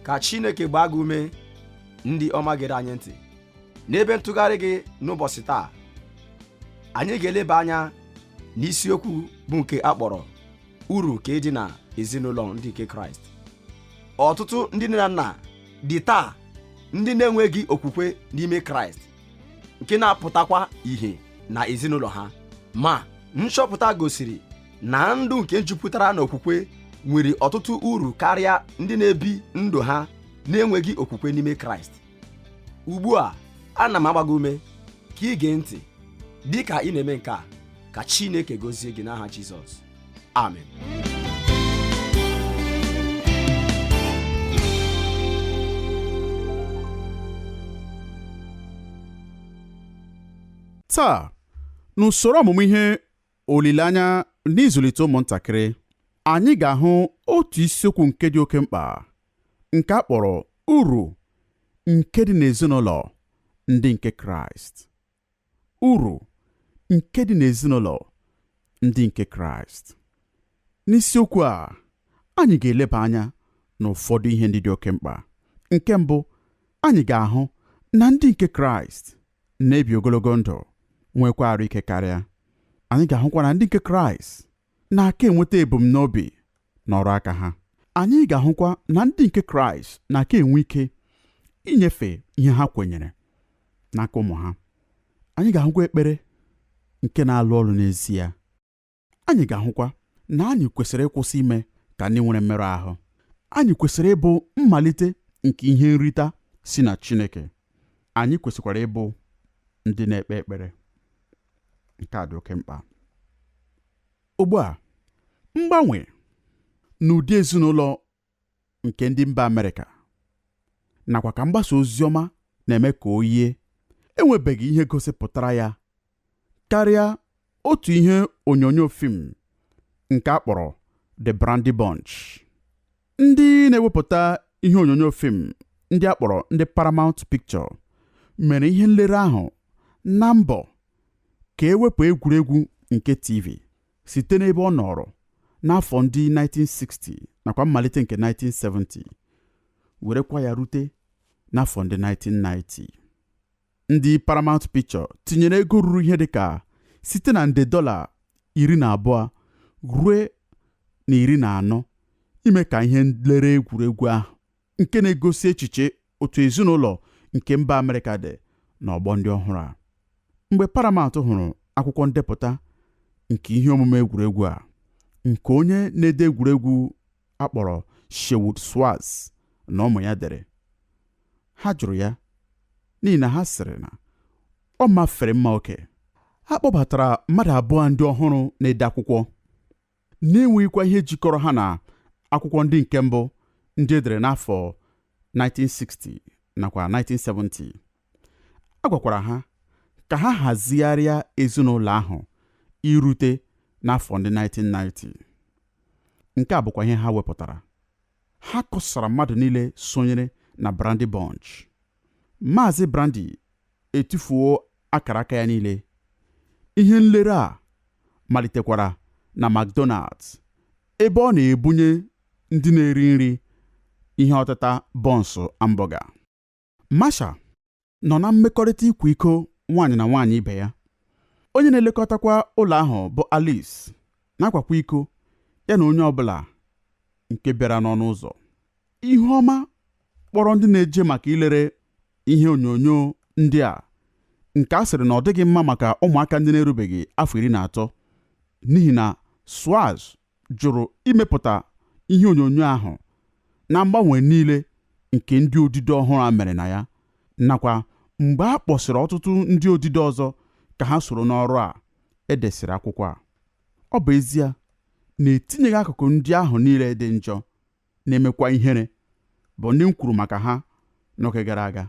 ka chineke gbaa gị ume ndị ọma gere anyị ntị n'ebe ntụgharị gị n'ụbọchị taa anyị ga-eleba anya n'isiokwu bụ nke a kpọrọ uru nke dị na ezinụlọ ndị nke kraịst ọtụtụ ndị nne na nna dị taa ndị na-enweghị okwukwe n'ime kraịst nke na-apụtakwa ìhè na ezinụlọ ha ma nchọpụta gosiri na ndụ nke jupụtara n'okwukwe nwere ọtụtụ uru karịa ndị na-ebi ndụ ha na-enweghị okwukwe n'ime kraịst ugbu a ana m agba gị ume ka ị gee ntị dị ka ị na-eme nke a ka chineke gọzie gị n'aha jizọs amen taa n'usoro ọmụmụ ihe olileanya n'ịzụlite ụmụntakịrị anyị ga-ahụ otu isiokwu nke dị oke mkpa nke a kpọrọ uru nke dị n'ezinụlọ ndị nke Kraịst Uru nke dị n'ezinụlọ ndị nke Kraịst. N'isiokwu a, anyị ga-eleba anya n'ụfọdụ ihe ndị dị oke mkpa. Nke mbụ, anyị ga-ahụ na ndị nke Kraịst na-ebi ogologo ndụ, nwekwa arụ ike karịa. Anyị ga-ahụkwa na ndị nke Kraịst na-aka enweta ebumnobi n'ọrụ aka ha anyị ga-ahụkwa na ndị nke kraịst na-aka enwe ike inyefe ihe ha kwenyere n'aka ụmụ ha anyị ga-ahụkwa ekpere nke na-alụ ọlụ n'ezie anyị ga-ahụkwa na anyị kwesịrị ịkwụsị ime ka ndị nwere mmerụ ahụ anyị kwesịrị ịbụ mmalite nke ihe nrita si na Chineke anyị kwesịkwara ịbụ ndị na-ekpe ekpere nke a dị oke mkpa ugbu a mgbanwe n'ụdị ezinụlọ nke ndị mba Amerịka nakwa ka mgbasa ozi ọma na-eme ka o yie enwebeghị ihe gosipụtara ya karịa otu ihe onyonyo fim nke a kpọrọ The Brandy Bunch ndị na-ewepụta ihe onyonyo fim ndị a kpọrọ ndị Paramount Picture mere ihe nlere ahụ na mbọ ka e wepụ egwuregwu nke TV site n'ebe ọ nọrọ n'afọ ndị 1960 nakwa mmalite nke 1970 werekwa ya rute n'afọ ndị 1990 Ndị Paramount Picture tinyere ego ruru ihe dịka site na nde dọla iri na abụọ rue na iri na anọ ime ka ihe nlere egwuregwu ahụ nke na-egosi echiche otu ezinụlọ nke mba Amerịka dị n'ọgbọ ndị ọhụrụ a. Mgbe Paramount hụrụ akwụkwọ ndepụta nke ihe omume egwuregwu a nke onye na-ede egwuregwu a kpọrọ Sherwood Schwartz na ụmụ ya dere ha jụrụ ya n'ihi na ha sịrị na ọ mafere mma oke a kpọbatara mmadụ abụọ ndị ọhụrụ na-ede akwụkwọ na-enweghịkwa ihe jikọrọ ha na akwụkwọ ndị nke mbụ ndị e dere n'afọ 1960 nakwa 1970 a gwakwara ha ka ha hazigharịa ezinụlọ ahụ irute n'afọ ndị 1990 nke a bụkwa ihe ha wepụtara ha kọsara mmadụ niile sonyere na Brandy Bunch Maazị Brandy etufuo akara aka ya niile ihe nlere a malitekwara na McDonald's ebe ọ na-ebunye ndị na-eri nri ihe ọtịta bọnsụ ambọga Marcia nọ na mmekọrịta ịkwa iko nwaanyị na nwaanyị ibe ya. Onye na-elekọtakwa ụlọ ahụ bụ Alice na-akwakwa iko ya na onye ọbụla nke bịara n'ọnụ ụzọ. Ihuọma kpọrọ ndị na-eje maka ilere ihe onyonyo ndị a nke a sịrị na ọ dịghị mma maka ụmụaka ndị na-erubeghị afọ iri na atọ n'ihi na Schwartz jụrụ imepụta ihe onyonyo ahụ na mgbanwe niile nke ndị odide ọhụrụ a mere na ya nakwa mgbe a kpọsịrị ọtụtụ ndị odide ọzọ ka ha soro n'ọrụ a e desịrị akwụkwọ a ọ bụ ezie na etinyeghị akụkụ ndị ahụ niile dị njọ na-emekwa ihere bụ ndị m kwuru maka ha n'oge gara aga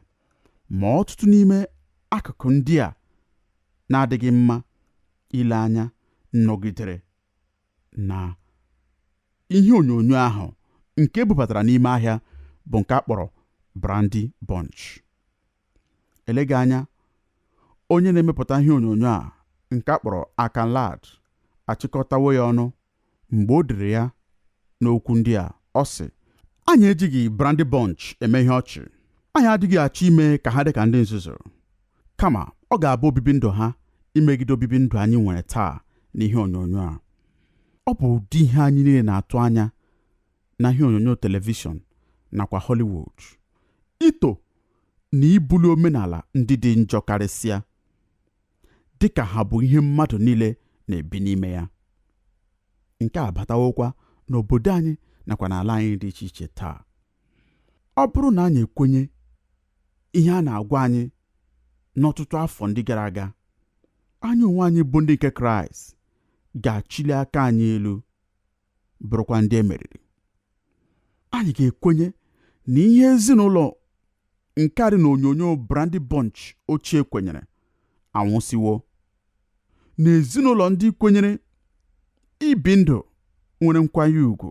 ma ọtụtụ n'ime akụkụ ndị a na-adịghị mma ile anya nọgidere na ihe onyonyo ahụ nke e bubatara n'ime ahịa bụ nke a kpọrọ Brandy Bunch. Eleghị anya, onye na-emepụta ihe onyonyo a nke a kpọrọ Akan Ladd achịkọtawo ya ọnụ mgbe o dere ya n'okwu ndị a, ọ sị, Anyị ejighị Brandy Bunch eme ihe ọchị. Anyị adịghị achọ ime ka ha dị ka ndị nzuzu. kama ọ ga-abụ obibi ndụ ha imegide obibi ndụ anyị nwere taa n'ihe onyonyo a ọ bụ ụdị ihe anyị niile na-atụ anya na ihe onyonyo telivishọn nakwa Hollywood ito na ibuli omenala ndị dị njọ karịsịa dịka ha bụ ihe mmadụ niile na-ebi n'ime ya nke a batawokwa n'obodo anyị nakwa n'ala anyị dị iche iche taa ọ bụrụ na anyị ekwenye ihe a na-agwa anyị n'ọtụtụ afọ ndị gara aga anyị onwe anyị bụ ndị nke kraịst ga-achịli aka anyị elu bụrụkwa ndị e meriri anyị ga-ekwenye na ihe ezinụlọ Nke a dị n'onyonyo Brandy Bunch ochie kwenyere anwụsịwo. Na ezinụlọ ndị kwenyere ibi ndụ nwere nkwanye ugwu,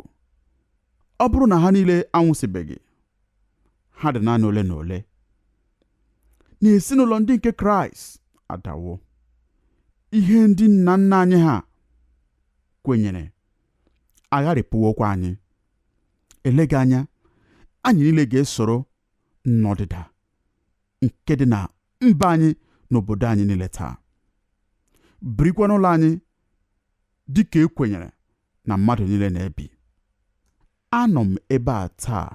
ọ bụrụ na ha niile anwụsịbeghị, ha dị naanị ole na ole. Na ezinụlọ ndị nke Kraịst adawo, ihe ndị nna nna anyị ha kwenyere agharịpụwokwa anyị. eleghị anya anyị niile ga-esoro n'ọdịda nke dị na mba anyị na obodo anyị niile taa birikwa n'ụlọ anyị dị ka e kwenyere na mmadụ niile na-ebi anọ m ebe a taa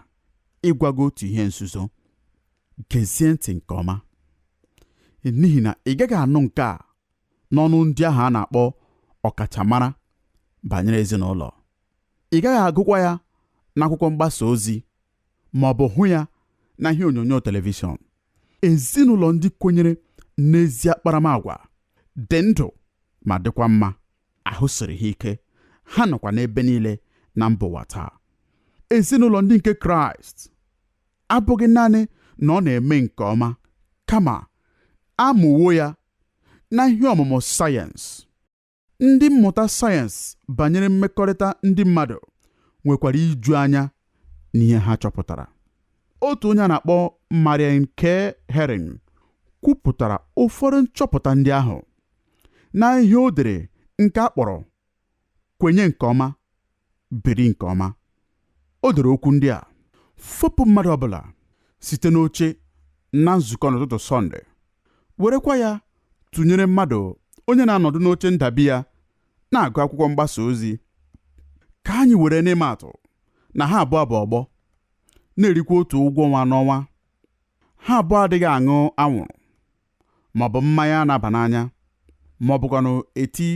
ịgwa gị otu ihe nzuzo geezie ntị nke ọma n'ihi na ị gaghị anụ nke a n'ọnụ ndị ahụ a na-akpọ ọkachamara banyere ezinụlọ ị gaghị agụkwa ya n'akwụkwọ mgbasa ozi ma ọ bụ hụ ya na ihe onyonyo telivishọn ezinụlọ ndị kwenyere n'ezi akparamagwa dị ndụ ma dịkwa mma ahụ siri ha ike ha nọkwa n'ebe niile na mba ụwa taa ezinụlọ ndị nke kraịst abụghị naanị na ọ na-eme nke ọma kama a mụwo ya n'ihe ọmụmụ sayensị. Ndị mmụta sayensị banyere mmekọrịta ndị mmadụ nwekwara iju anya n'ihe ha chọpụtara. Otu onye a na-akpọ Marianne K. Hering kwupụtara ụfọdụ nchọpụta ndị ahụ n'ihe o dere nke a kpọrọ kwenye nke ọma biri nke ọma o dere okwu ndị a fopụ mmadụ ọbụla site n'oche na nzukọ n'ụtụtụ sọnde werekwa ya tụnyere mmadụ onye na-anọdụ n'oche ndabi ya na-agụ akwụkwọ mgbasa ozi ka anyị were n'ịma atụ na ha abụọ bụ ọgbọ na-erikwa otu ụgwọ ọnwa n'ọnwa ha abụọ adịghị aṅụ anwụrụ maọbụ mmanya na-aba n'anya maọbụkwanụ eti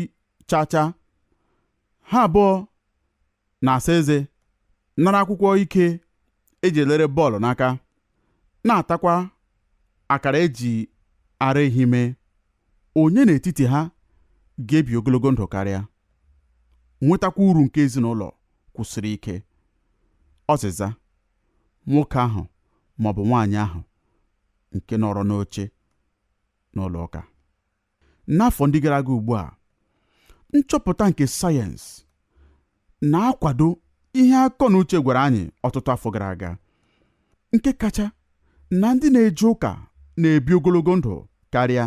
chacha ha abụọ na-asa eze nara akwụkwọ ike e ji elere bọọlụ n'aka na-atakwa akara e ji ara ehi mee onye n'etiti ha ga-ebi ogologo ndụ karịa nwetakwa uru nke ezinụlọ kwụsiri ike ọzịza nwoke ahụ maọbụ nwaanyị ahụ nke nọrọ n'oche n'ụlọ ụka N'afọ ndị gara aga ugbu a, nchọpụta nke sayensị na-akwado ihe akọ na uche gwara anyị ọtụtụ afọ gara aga nke kacha na ndị na-eje ụka na-ebi ogologo ndụ karịa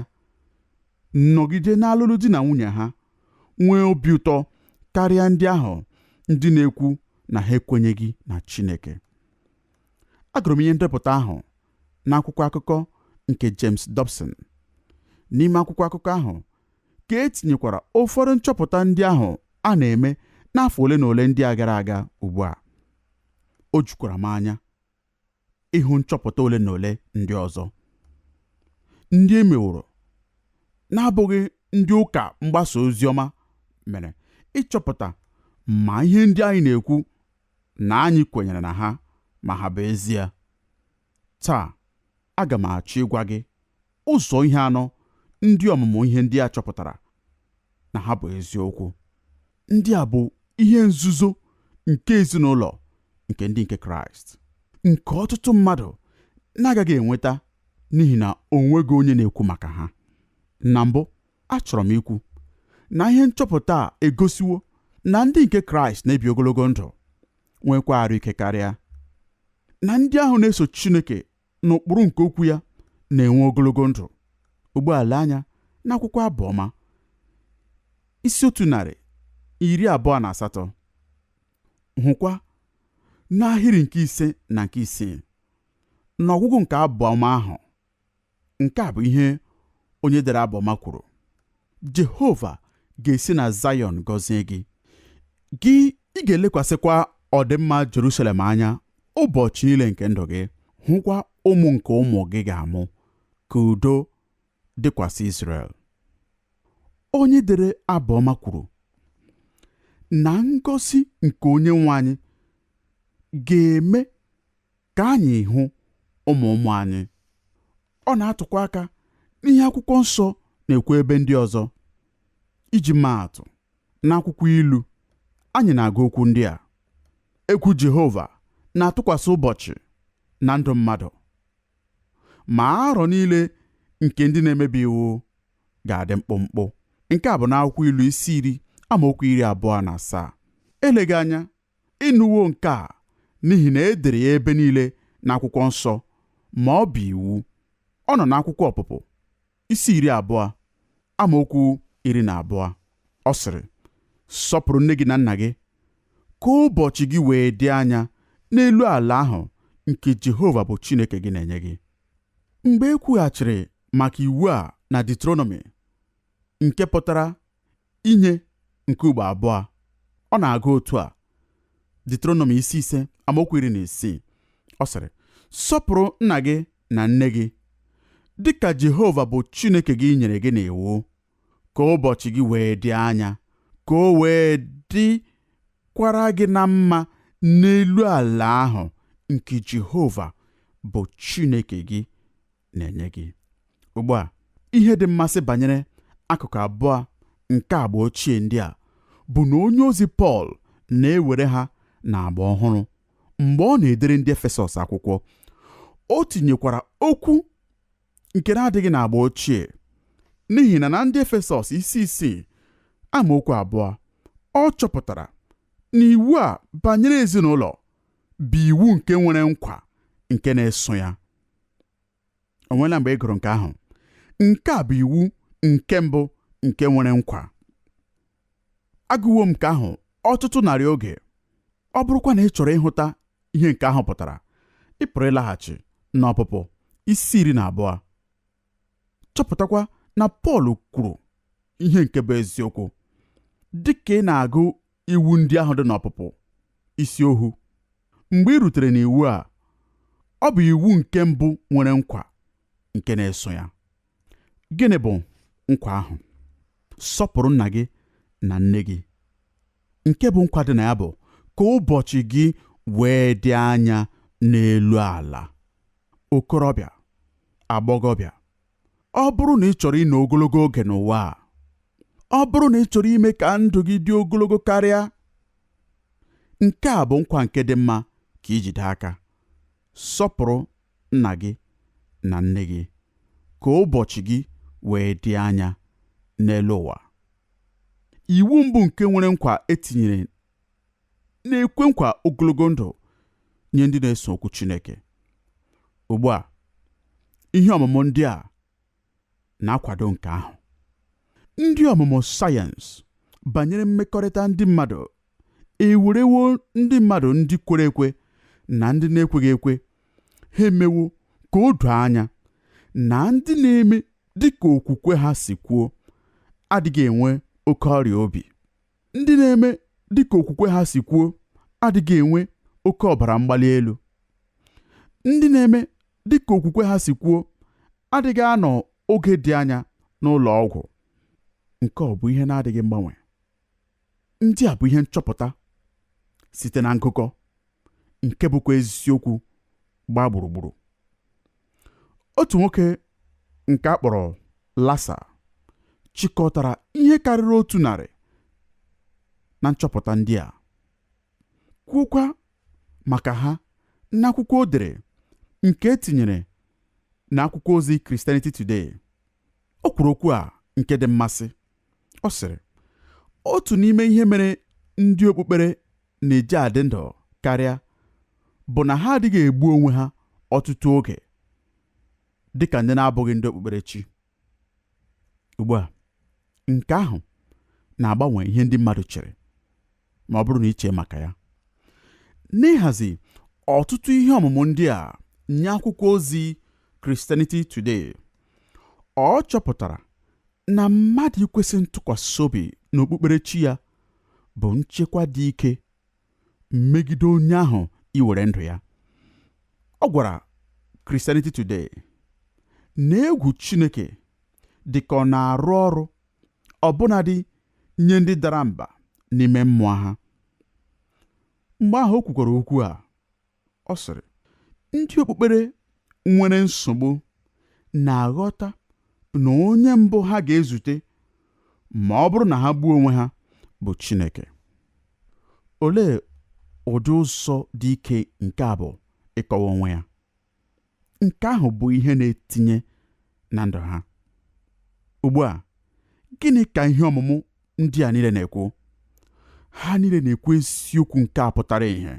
nọgide n'alụlụ di na nwunye ha nwee obi ụtọ karịa ndị ahụ ndị na-ekwu na ha ekwenyeghị na Chineke agụrụ m ihe ndepụta ahụ n'akwụkwọ akụkọ nke James Dobson. N'ime akwụkwọ akụkọ ahụ ka e tinyekwara ụfọdụ nchọpụta ndị ahụ a na-eme n'afọ ole na ole ndị a gara aga ugbu a. O jukwara m anya ịhụ nchọpụta ole na ole ndị ọzọ ndị e meworo na-abụghị ndị ụka mgbasa ozi ọma mere ịchọpụta ma ihe ndị anyị na-ekwu na anyị kwenyere na ha ma ha bụ ezie. Taa, aga m achọ ịgwa gị ụzọ ihe anọ ndị ọmụmụ ihe ndị a chọpụtara na ha bụ eziokwu. Ndị a bụ ihe nzuzo nke ezinụlọ nke ndị nke Kraịst, nke ọtụtụ mmadụ na-agaghị enweta n'ihi na o nweghị onye na-ekwu maka ha. Na mbụ, achọrọ m ikwu na ihe nchọpụta a egosiwo na ndị nke Kraịst na-ebi ogologo ndụ nwekwa arụ ike karịa na ndị ahụ na-eso Chineke n'ụkpụrụ nke okwu ya na-enwe ogologo ndụ ugbu a lee anya n'akwụkwọ abụọma isi otu narị iri abụọ na asatọ hụkwa n'ahịrị nke ise na nke isii n'ọgwụgwụ nke abụọma ahụ Nke a bụ ihe onye dere abụọma kwuru, Jehova ga-esi na Zayọn gọzie gị, gị ị ga-elekwasịkwa ọdịmma Jerusalem anya ụbọchị niile nke ndụ gị, hụkwa ụmụ nke ụmụ gị ga-amụ, ka udo dịkwasị Izrel. Onye dere abụọma kwuru na ngọzi nke onye nwe anyị ga-eme ka anyị hụ ụmụ ụmụ anyị. Ọ na-atụkwa aka n'ihe akwụkwọ nsọ na-ekwu ebe ndị ọzọ. Iji maa atụ, n'akwụkwọ ilu, anyị na-agụ okwu ndị a, Egwu Jehova na-atụkwasị ụbọchị na ndụ mmadụ, ma arọ niile nke ndị na-emebi iwu ga-adị mkpụmkpụ. Nke a bụ n'akwụkwọ ilu isi iri amaokwu iri abụọ na asaa. Eleghị anya Ị nụwo nke a, n'ihi na e dere ya ebe niile n'akwụkwọ nsọ, ma ọ bụ iwu. Ọ nọ n'akwụkwọ Ọpụpụ, isi iri abụọ, amaokwu iri na abụọ. Ọ sịrị, Sọpụrụ nne gị na nna gị, ka ụbọchị gị wee dị anya n'elu ala ahụ nke Jehova bụ Chineke gị na-enye gị. Mgbe e kwughachiri maka iwu a na Deuteronomi, nke pụtara inye nke ugbo abụọ. Ọ na-aga otu a, Diuteronomi isi ise amaokwu iri na isii. Ọ sịrị, Sọpụrụ nna gị na nne gị, dị ka Jehova bụ Chineke gị nyere gị n'iwu, ka ụbọchị gị wee dị anya, ka o wee dịkwara gị na mma n'elu ala ahụ nke Jehova bụ Chineke gị na-enye gị ugbu a ihe dị mmasị banyere akụkụ abụọ nke agba ochie ndị a bụ na onye ozi Pọl na-ewere ha n'agba ọhụrụ mgbe ọ na-edere ndị Efesọs akwụkwọ o tinyekwara okwu nke na-adịghị n'agba ochie n'ihi na na ndị Efesọs isi isii amaokwu abụọ ọ chọpụtara na iwu a banyere ezinụlọ bụ iwu nke nwere nkwa nke na-eso ya o nweela mgbe ị gụrụ nke ahụ nke a bụ iwu nke mbụ nke nwere nkwa agụwo m nke ahụ ọtụtụ narị oge ọ bụrụkwa na ị chọrọ ịhụta ihe nke ahụ pụtara ị pụrụ ịlaghachi n'ọpụpụ isi iri na abụọ chọpụtakwa na Pọl kwuru ihe nke bụ eziokwu dị ka ị na-agụ iwu ndị ahụ dị n'ọpụpụ isi ohu mgbe i rutere n'iwu a ọ bụ iwu nke mbụ nwere nkwa nke na-eso ya gịnị bụ nkwa ahụ sọpụrụ nna gị na nne gị nke bụ nkwa dị na ya bụ ka ụbọchị gị wee dị anya n'elu ala okorobịa agbọghọbịa ọ bụrụ na ị chọrọ ịnọ ogologo oge n'ụwa a ọ bụrụ na ị chọrọ ime ka ndụ gị dị ogologo karịa nke a bụ nkwa nke dị mma ka i jide aka Sọpụrụ nna gị na nne gị, ka ụbọchị gị wee dị anya n'elu ụwa. Iwu mbụ nke nwere nkwa e tinyere na-ekwe nkwa ogologo ndụ nye ndị na-eso okwu Chineke. Ugbu a, ihe ọmụmụ ndị a na-akwado nke ahụ. Ndị ọmụmụ sayensị banyere mmekọrịta ndị mmadụ ewerewo ndị mmadụ ndị kwere ekwe na ndị na-ekweghị ekwe ha emewo ka o doo anya na ndị na-eme dị ka okwukwe ha si kwuo adịghị enwe oke ọrịa obi ndị na-eme dị ka okwukwe ha si kwuo adịghị enwe oke ọbara mgbali elu ndị na-eme dị ka okwukwe ha si kwuo adịghị anọ oge dị anya n'ụlọ ọgwụ nke ọ bụ ihe na-adịghị mgbanwe ndị a bụ ihe nchọpụta site na ngụkọ nke bụkwa eziokwu gbaa gburugburu otu nwoke nke a kpọrọ Larson chịkọtara ihe karịrị otu narị na nchọpụta ndị a kwuokwa maka ha n'akwụkwọ o dere nke e tinyere n'akwụkwọ ozi Christianity Today. O kwuru okwu a nke dị mmasị. Ọ sịrị, Otu n'ime ihe mere ndị okpukpere na-eji adị ndụ karịa bụ na ha adịghị egbu onwe ha ọtụtụ oge dị ka ndị na-abụghị ndị okpukperechi. ugbu a nke ahụ na-agbanwe ihe ndị mmadụ chere ma ọ bụrụ na i chee maka ya n'ịhazi ọtụtụ ihe ọmụmụ ndị a nye akwụkwọ ozi Christianity Today ọ chọpụtara na mmadụ ikwesị ntụkwasị obi n'okpukperechi ya bụ nchekwa dị ike megide onye ahụ iwere ndụ ya ọ gwara Christianity Today na egwu Chineke dị ka ọ na-arụ ọrụ ọbụnadị nye ndị dara mba n'ime mmụọ ha mgbe ahụ o kwukwara okwu a ọ sịrị ndị okpukpere nwere nsogbu na-aghọta na onye mbụ ha ga-ezute ma ọ bụrụ na ha gbuo onwe ha bụ Chineke olee ụdị ụzọ dị ike nke a bụ ịkọwa onwe ya nke ahụ bụ ihe na-etinye na ndụ ha ugbu a gịnị ka ihe ọmụmụ ndị a niile na-ekwu ha niile na-ekwu eziokwu nke a pụtara ihe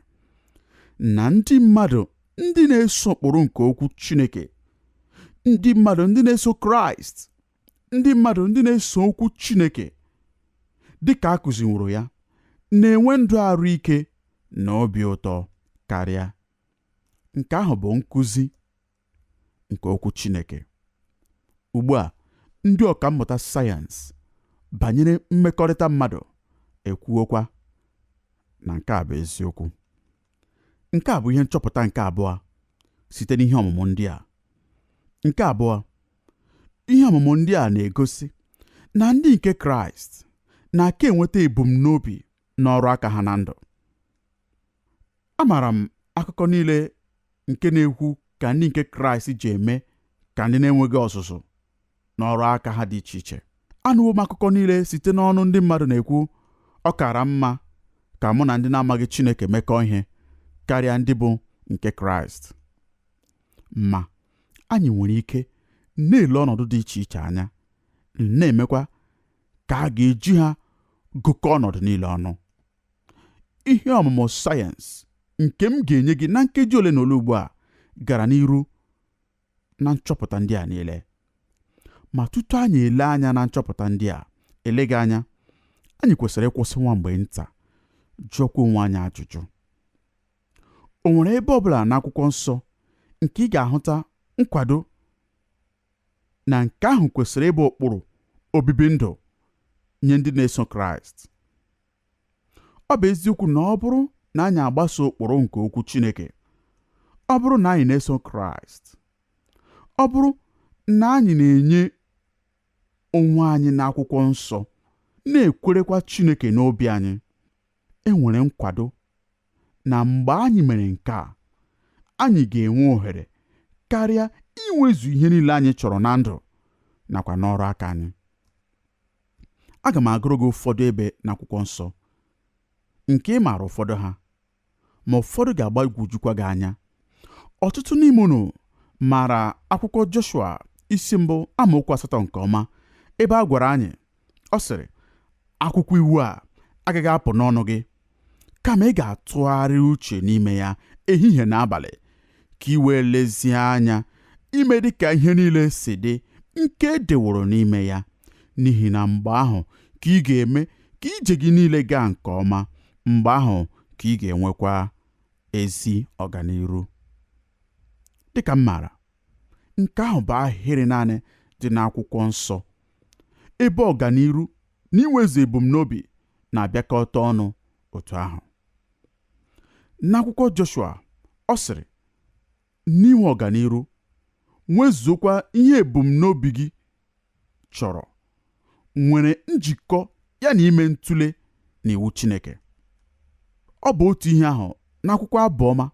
na ndị mmadụ ndị na-eso ụkpụrụ nke okwu Chineke ndị mmadụ ndị na-eso Kraịst ndị mmadụ ndị na-eso okwu Chineke dị ka a kụziworo ya na-enwe ndụ arụ ike na obi ụtọ karịa nke ahụ bụ nkụzi nke okwu Chineke ugbu a ndị ọka mmụta sayensị banyere mmekọrịta mmadụ ekwuokwa na nke a bụ eziokwu nke a bụ ihe nchọpụta nke abụọ site n'ihe ọmụmụ ndị a nke abụọ ihe ọmụmụ ndị a na-egosi na ndị nke kraịst na-aka enweta ebumnobi n'ọrụ aka ha na ndụ Amaara m akụkọ niile nke na-ekwu ka ndị nke Kraịst ji eme ka ndị na-enweghị ọzụzụ n'ọrụ aka ha dị iche iche. Anụwo m akụkọ niile site n'ọnụ ndị mmadụ na-ekwu ọ kara mma ka mụ na ndị na-amaghị Chineke mekọọ ihe karịa ndị bụ nke Kraịst. Ma, anyị nwere ike na-ele ọnọdụ dị iche iche anya, na-emekwa ka a ga-eji ha gụkọọ ọnọdụ niile ọnụ. ihe ọmụmụ sayensị nke m ga-enye gị na nkeji ole na ole ugbu a gara n'iru na nchọpụta ndị a niile ma tutu anyị ele anya na nchọpụta ndị a eleghị anya anyị kwesịrị ịkwụsị nwa mgbe nta jụọkwa onwe anyị ajụjụ o nwere ebe ọbụla n'akwụkwọ nsọ nke ị ga-ahụta nkwado na nke ahụ kwesịrị ịbụ ụkpụrụ obibi ndụ nye ndị na-eso kraịst ọ bụ eziokwu na ọ bụrụ na anyị agbaso ụkpụrụ nke okwu Chineke ọ bụrụ na anyị na-eso Kraịst ọ bụrụ na anyị na-enye onwe anyị n'akwụkwọ nsọ na-ekwerekwa Chineke n'obi anyị e nwere nkwado na mgbe anyị mere nke a anyị ga-enwe ohere karịa inwezu ihe niile anyị chọrọ na ndụ nakwa n'ọrụ aka anyị aga m agụrụ gị ụfọdụ ebe n'akwụkwọ nsọ nke ị maara ụfọdụ ha ma ụfọdụ ga-agbagwojukwa gị anya ọtụtụ n'ime unu maara akwụkwọ Joshua isi mbụ amaokwu asatọ nke ọma ebe a gwara anyị ọ sịrị akwụkwọ iwu a agaghị apụ n'ọnụ gị kama ị ga-atụgharị uche n'ime ya ehihie na abalị ka ị wee lezie anya ime dị ka ihe niile si dị nke e deworo n'ime ya n'ihi na mgbe ahụ ka ị ga-eme ka ije gị niile gaa nke ọma mgbe ahụ ka ị ga-enwekwa ezi ọganiru dịka m maara nke ahụ bụ ahịrị naanị dị n'akwụkwọ nsọ ebe ọganiru na inwezu ebumnobi na-abịakọta ọnụ otu ahụ. N'akwụkwọ Joshua, ọ sịrị, N'inwe ọganiru, nwezuokwa ihe ebumnobi gị chọrọ, nwere njikọ ya na ime ntụle na iwu Chineke. Ọ bụ otu ihe ahụ n'akwụkwọ abụọma.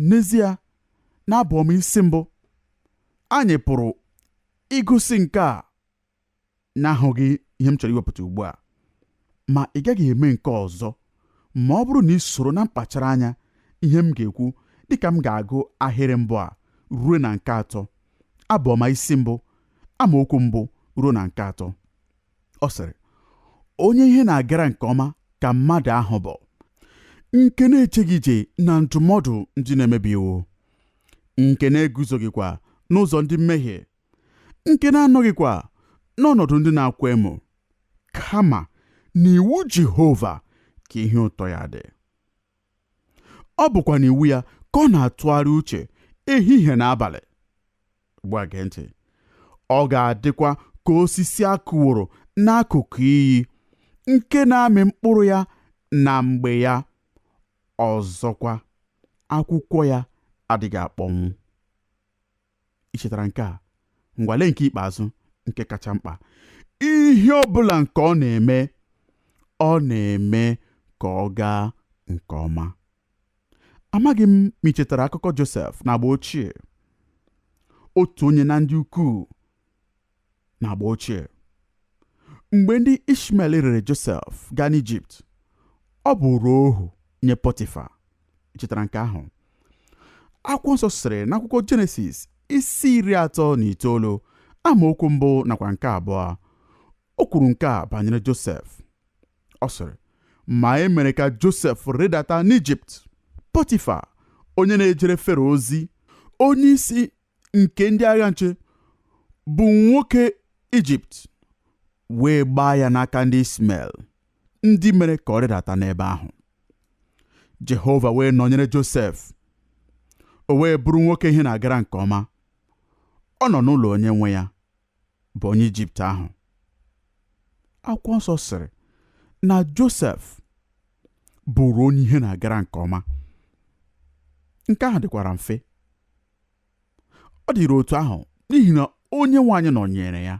N'ezie, n'abụọma isi mbụ, anyị pụrụ ịgụsị nke a n'ahụghị ihe m chọrọ iwepụta ugbu a ma ị gaghị eme nke ọzọ ma ọ bụrụ na i soro na mkpachara anya ihe m ga-ekwu dịka m ga-agụ ahịrị mbụ a ruo na nke atọ abụ ọma isi mbụ amaokwu mbụ ruo na nke atọ ọ sịrị onye ihe na-agara nke ọma ka mmadụ ahụ bụ nke na-ejeghị ije na ndụmọdụ ndị na-emebi iwu nke na-eguzoghịkwa n'ụzọ ndị mmehie nke na-anọghịkwa n'ọnọdụ ndị na-akwa emo kama n'iwu Jehova ka ihe ụtọ ya dị ọ bụkwa n'iwu ya ka ọ na-atụgharị uche ehihie na abalị ugbu a gee ntị ọ ga-adịkwa ka osisi a kụworo n'akụkụ iyi nke na-amị mkpụrụ ya na mgbe ya ọzọkwa akwụkwọ ya adịghị akpọnwụ i chetara nke a ngwa lee nke ikpeazụ nke kacha mkpa ihe ọ bụla nke ọ na-eme ọ na-eme ka ọ gaa nke ọma amaghị m ma i chetara akụkọ Josef n'agba ochie otu onye na ndị ukwuu n'agba ochie mgbe ndị ishmael rere josef gaa n'ijipt ọ bụrụ ohu nye pọtifa i chetara nke ahụ akwụkwọ nsọ sịrị n'akwụkwọ jenesis isi iri atọ na itoolu amaokwu mbụ nakwa nke abụọ o kwuru nke a banyere josef ọ sịrị ma e mere ka josef rịdata n'ijipt pọtifa onye na-ejere fero ozi onye isi nke ndị agha nche bụ nwoke Ijipt wee gbaa ya n'aka ndị Ismael ndị mere ka ọ rịdata n'ebe ahụ Jehova wee nọnyere Josef o wee bụrụ nwoke ihe na-agara nke ọma ọ nọ n'ụlọ onye nwe ya bụ onye Ijipt ahụ akwụkwọ nsọ sịrị na Josef bụrụ onye ihe na-agara nke ọma nke ahụ dịkwara mfe ọ dịrị otu ahụ n'ihi na onye nwe anyị nọnyere ya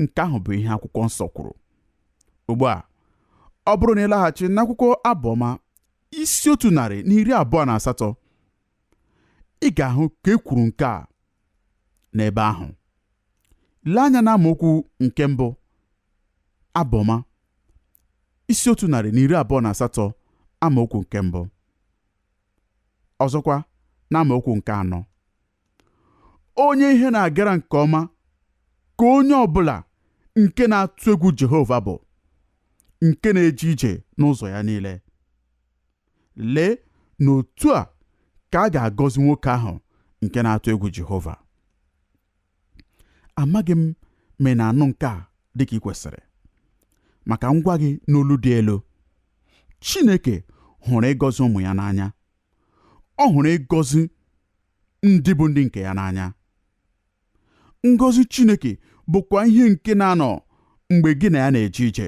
nke ahụ bụ ihe akwụkwọ nsọ kwuru ugbu a ọ bụrụ na ị laghachi n'akwụkwọ abụọma isi otu narị na iri abụọ na asatọ ị ga-ahụ ka e kwuru nke a n'ebe ahụ lee anya n'amaokwu nke mbụ abụ ọma isi otu narị na iri abụọ na asatọ amaokwu nke mbụ ọzọkwa n'amaokwu nke anọ onye ihe na-agara nke ọma ka onye ọ bụla nke na-atụ egwu Jehova bụ nke na-eje ije n'ụzọ ya niile Lee na otu a ka a ga-agọzi nwoke ahụ nke na-atụ egwu Jehova. Amaghị m ma ị na-anụ nke a dị ka i kwesịrị. Ma ka m gwa gị n'olu dị elu, Chineke hụrụ ịgọzi ụmụ ya n'anya. Ọ hụrụ ịgọzi ndị bụ ndị nke ya n'anya. Ngọzi Chineke bụkwa ihe nke na-anọ mgbe gị na ya na-eje ije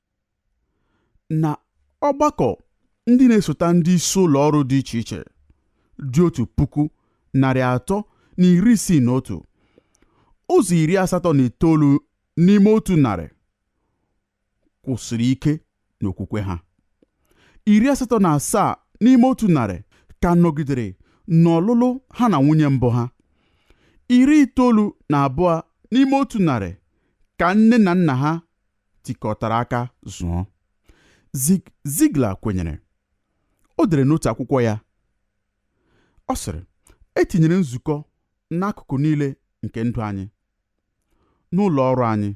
na ọgbakọ ndị na-esota ndị isi ụlọ ọrụ dị iche iche dị otu puku narị atọ na iri isii na otu ụzọ iri asatọ na itoolu n'ime otu narị kwụsịrị ike n'okwukwe ha iri asatọ na asaa n'ime otu narị ka nọgidere n'ọlụlụ ha na nwunye mbụ ha iri itoolu na abụọ n'ime otu narị ka nne na nna ha tikọtara aka zụọ. Ziglar kwenyere. O dere n'otu akwụkwọ ya, ọ sịrị, E tinyere nzukọ n'akụkụ niile nke ndụ anyị, n'ụlọ ọrụ anyị.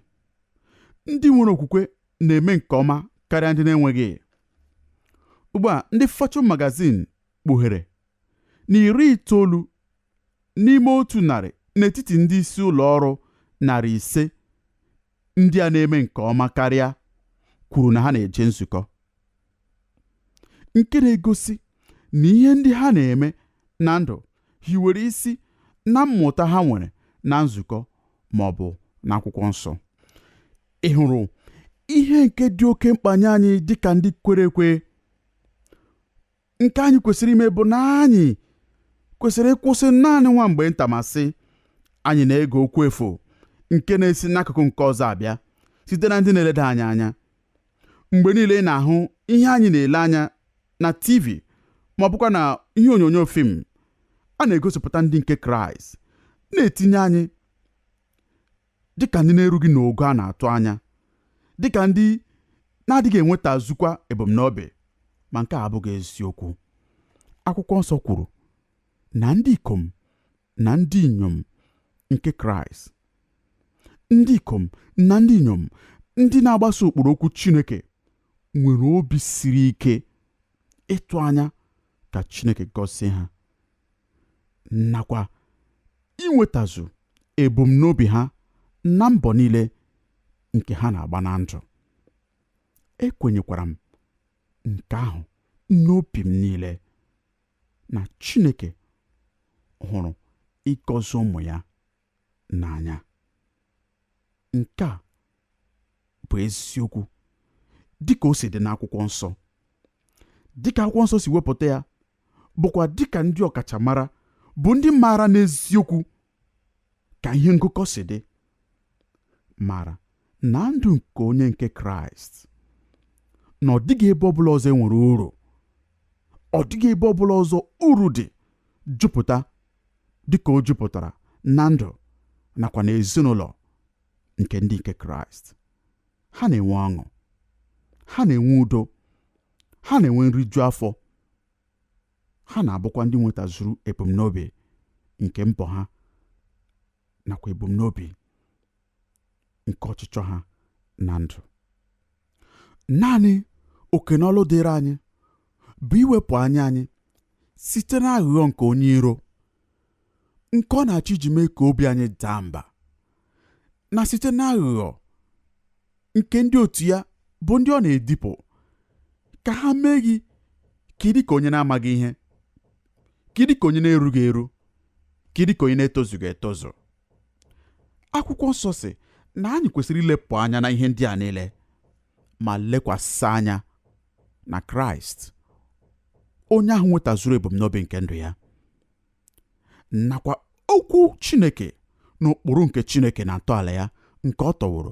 Ndị nwere okwukwe na-eme nke ọma karịa ndị na-enweghị. Ugbu a, ndị Fortune magazine kpughere na iri itoolu n'ime otu narị n'etiti ndị isi ụlọ ọrụ narị ise ndị a na-eme nke ọma karịa kwuru na ha na-eje nzukọ nke na-egosi na ihe ndị ha na-eme na ndụ hiwere isi na mmụta ha nwere na nzukọ ma ọ bụ n'akwụkwọ nsọ ị hụrụ ihe nke dị oke mkpa nye anyị dịka ndị kwere ekwe nke anyị kwesịrị ime bụ na anyị kwesịrị ịkwụsị naanị nwa mgbe nta ma sị anyị na-ege okwu efu nke na-esi n'akụkụ nke ọzọ abịa site na ndị na-eleda anyị anya mgbe niile ị na-ahụ ihe anyị na-ele anya na TV ma ọ bụkwa na ihe onyonyo film a na-egosipụta ndị nke Kraịst na-etinye anyị dịka ndị na-erughị n'ogo a na-atụ anya, dịka ndị na-adịghị enwetazukwa ebumnobi, ma nke a abụghị eziokwu. Akwụkwọ nsọ kwuru na ndị ikom na ndị inyom nke Kraịst, ndị ikom na ndị inyom ndị na-agbaso ụkpụrụ okwu Chineke nwere obi siri ike ịtụ anya ka Chineke gọzie ha. nakwa inwetazu ebumnobi ha na mbọ niile nke ha na-agba na ndụ ekwenyekwara m nke ahụ n'obi m niile na Chineke hụrụ ịgọzi ụmụ ya n'anya nke a bụ eziokwu dịka o si dị n'akwụkwọ nsọ dịka akwụkwọ nsọ si wepụta ya bụkwa dịka ndị ọkachamara bụ ndị maara n'eziokwu ka ihe ngụkọ si dị mara na ndụ nke onye nke kraịst na ọ dịghị ebe ọbụla ọzọ enwere uru ọ dịghị ebe ọbụla ọzọ uru dị jupụta dịka o jupụtara na ndụ nakwa na ezinụlọ nke ndị nke kraịst ha na-enwe ọṅụ ha na-enwe udo ha na-enwe nriju afọ ha na-abụkwa ndị nwetazuru ebumnobi nke mbọ ha nakwa ebumnobi nke ọchịchọ ha na ndụ naanị oke na ọlụ dịrị anyị bụ iwepụ anya anyị site na aghụghọ nke onye iro nke ọ na-achọ iji mee ka obi anyị daa mba na site na aghụghọ nke ndị otu ya bụ ndị ọ na-edipụ ka ha mee gị ka ị dị ka onye na-amaghị ihe ka ị dị ka onye na-erughị eru ka ị dị ka onye na-etozughị etozu akwụkwọ nsọ sị na anyị kwesịrị ilepụ anya na ihe ndị a niile ma lekwasị anya na kraịst onye ahụ nwetazuru ebumnobi nke ndụ ya nakwa okwu chineke na ụkpụrụ nke chineke na ntọala ya nke ọ tọworo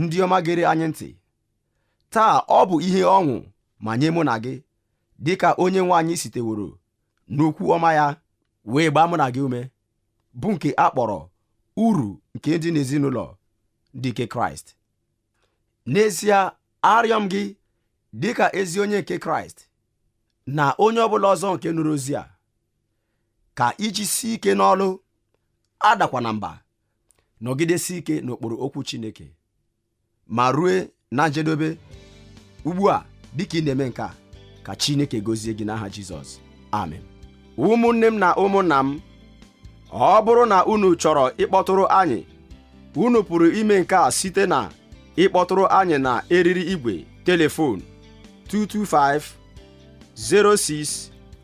ndị ọma gere anyị ntị taa ọ bụ ihe ọṅụ ma nye mụ na gị dịka onye nwe anyị siteworo n'okwu ọma ya wee gbaa mụ na gị ume bụ nke a kpọrọ uru nke dị n'ezinụlọ ndị nke kraịst n'ezie arịọ m gị dịka ezi onye nke kraịst na onye ọbụla ọzọ nke nụrụ ozi a ka i jisie ike n'ọlụ adakwa na mba nọgidesi ike n'okpuru okwu Chineke ma rue na njedebe ugbu a dịka ị na-eme nke a ka Chineke gozie gị n'aha Jizọs amen ụmụnne m na ụmụnna m ọ bụrụ na unu chọrọ ịkpọtụrụ anyị unu pụrụ ime nke a site na ịkpọtụrụ anyị na eriri igwe telefon 225 06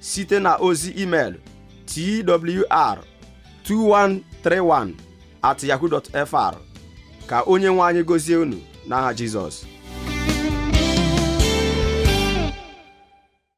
site na ozi email twr 2131 at yahoo fr ka onye nwe anyị gozie unu n'aha Jizọs